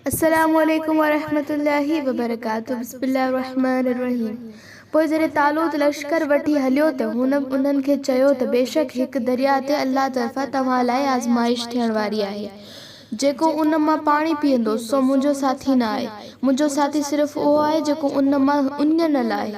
السلام عليڪم ورحمة الله وبرڪاته بسم الله الرحمٰن الرحيم پوء جڏهن طالوت لشڪر وٺي هليو ته هن انهن کي چيو ته بيشڪ هڪ درياء تي الله طرفان توهان لاء آزمائش ٿيڻ واري آهي جيڪو ان مان پاڻي پيئندو سو منهنجو ساٿي نه آهي منهنجو ساٿي صرف اهو آهي جيڪو ان مان اڃ نه لاهي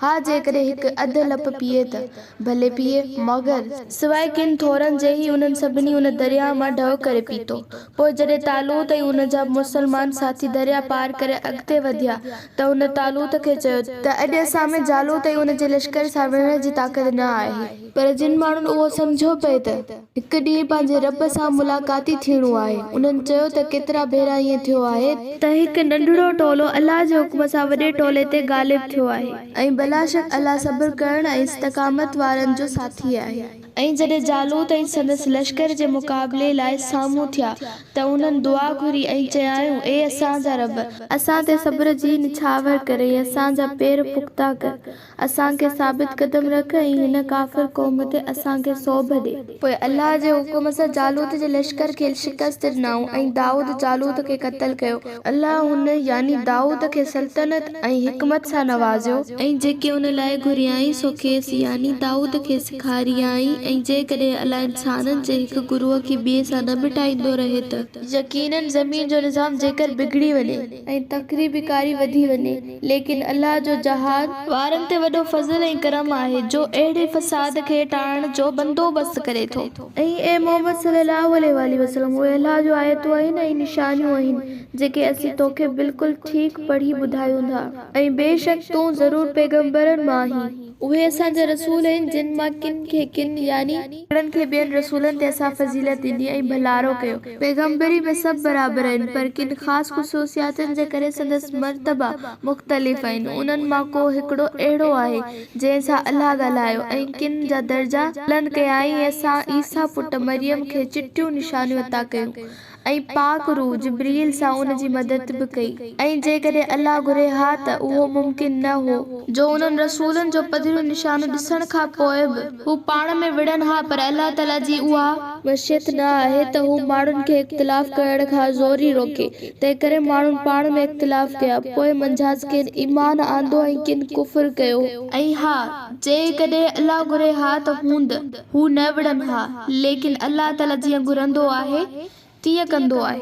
ها جيڪڏهن هڪ اڌ لپ پيئي ته ڀلي پيئي، مگر. سواء ڪن ٿورن جي هي انهن سڀني ان درياهه مان ڍؤ ڪري پيتو. پوء جڏهن طالوت ۽ ان جا مسلمان ساٿي درياهه پار ڪري اڳتي وڌيا ته هن طالوت کي چيو ته. ته اڄ اسان ۾ جالوت ۽ ان جي لشڪر سان وڙهڻ جي طاقت نه آهي. پر جن ماڻهن اهو سمجهيو پئي ته. هڪ ڏينهن پنهنجي رب سان ملاقاتي ٿيڻو آهي. انهن چيو ته ڪيترا ڀيرا ائين ٿيو آهي. ته هڪ ننڍڙو ٽولو الله جي حڪم سان وڏي ٽولي تي غالب ٿيو آهي. ۽ بلاشڪ الله صبر ڪرڻ ۽ استقامت وارن جو ساٿي آهي. ۽ جڏهن جالوت ۽ سندس لشڪر جي مقابلي لاء سامهون ٿيا ته انهن دعا گهري ۽ چيائون، اي اسان جا رب! اسان تي صبر جي نڇاور ڪر ۽ اسان جا پير پختا ڪر. اسان کي ثابت قدم رک ۽ هن ڪافر قوم تي اسان کي سوڀ ڏي. پوء الله جي حڪم سان جالوت جي لشڪر کي شڪست ڏنائون ۽ دائود جالوت کي قتل ڪيو. الله هن، يعني دائود، کي سلطنت ۽ حڪمت سان نوازيو. ۽ جيڪي ان لاء گهريائين سو کيس، يعني دائود کي، سيکاريائين ۽ جيڪڏهن الله انسانن جي هڪ گروهه کي ٻئي سان نه مٽائيندو رهي ته. يقيناً زمين جو نظام جيڪر بگڙي وڃي. ۽ تڪري به ڪاري وڌي وڃي، ليڪن الله جو جهاد. وارن تي وڏو فضل ۽ ڪرم آهي، جو اهڙي فساد کي ٽاڙڻ جو بندوبست ڪري ٿو. ۽ اي محمد صلّي اللّٰه عليه واٰله وسلّم! اهي الله جون آيتون آهن ۽ نشانيون آهن، جيڪي اسين توکي بلڪل ٺيڪ پڙهي ٻڌايون ٿا، ۽ بيشڪ تون ضرور پيغمبرن مان آهين. اهي اسان جا رسول آهن، جن مان ڪن کي ڪن، يعني. هڪڙن کي ٻين رسولن تي اسان فضيلت ڏني ۽ ڀلارو ڪيو. پيغمبري ۾ سڀ برابر آهن، پر ڪن خاص خصوصياتن جي ڪري سندس مرتبا مختلف آهن. انهن مان ڪو هڪڙو اهڙو آهي، جنهن سان الله ڳالهايو ۽ ڪن جا درجا بلند ڪيائين ۽ اسان عيسيٰ پٽ مريم کي چٽيون نشانيون عطا ڪيون. ۽ پاڪ روح جبرئيل سان ان جي مدد به ڪئي ۽ جيڪڏهن الله گهري ها ته اهو ممڪن نه هو جو انهن رسولن جو پڌريون نشانيون ڏسڻ کان پوء به هو پاڻ ۾ وڙهن ها پر الله تعاليٰ جي اها مشيت نه آهي ته هو ماڻهن کي اختلاف ڪرڻ کان زوري روڪي تنهنڪري ماڻهن پاڻ ۾ اختلاف ڪيا پوء منجهانس ڪن ايمان آندو ۽ ڪن ڪفر ڪيو. ۽ ها! جيڪڏهن الله گهري ها ته هوند. هو نه وڙهن ها، ليڪن الله تعاليٰ جيئن گهرندو آهي، تيئن ڪندو آهي.